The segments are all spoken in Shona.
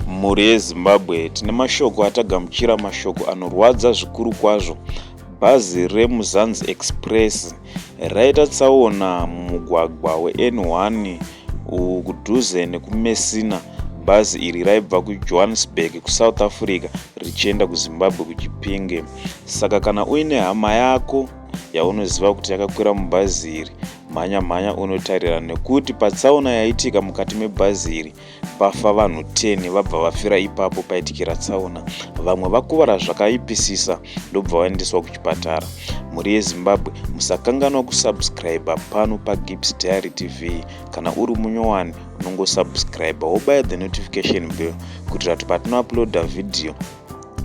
mhuri yezimbabwe tine mashoko atagamuchira mashoko anorwadza zvikuru kwazvo bhazi remuzanzi express raita tsaona mumugwagwa wen1 kudhuze nekumesina bhazi iri raibva kujohannesburg kusouth africa richienda kuzimbabwe kuchipinge saka kana uine hama yako yaunoziva kuti yakakwira mubhazi iri mhanya mhanya unotarira nekuti patsaona yaitika mukati mebhazi iri pafa vanhu 10 vabva vafira ipapo paitikira tsaona vamwe vakuvara zvakaipisisa ndobva vaendeswa kuchipatara mhuri yezimbabwe musakanganwa kusubscribe pano pagibs diary tv kana uri munyowani unongosubscribe wobaya the notification bill kuitira kuti patinouploada vhidhiyo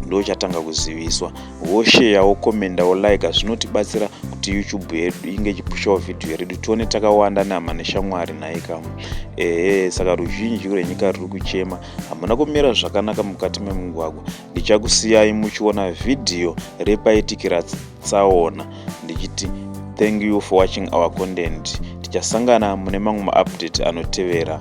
ndochatanga kuziviswa wosheya wokomenda wolaika zvinotibatsira kuti youtube yedu inge ichipushawo vhidhiyo redu tione takawanda nehama neshamwari nhai kamwe ehe saka ruzhinji rwenyika ruri kuchema hamuna kumira zvakanaka mukati memugwagwa ndichakusiyai muchiona vhidhiyo repaitikira tsaona ndichiti thank you for watching our content tichasangana mune mamwe maupdate anotevera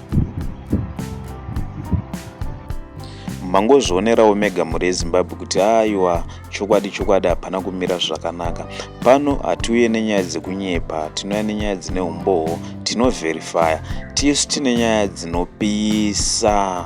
mangozvionerawo mega mhuri yezimbabwe kuti aiwa chokwadi chokwadi hapana kumira zvakanaka pano hatiuye nenyaya dzekunyepa tinouya nenyaya dzine umbowo tinovherifaya tisu tine nyaya dzinopisa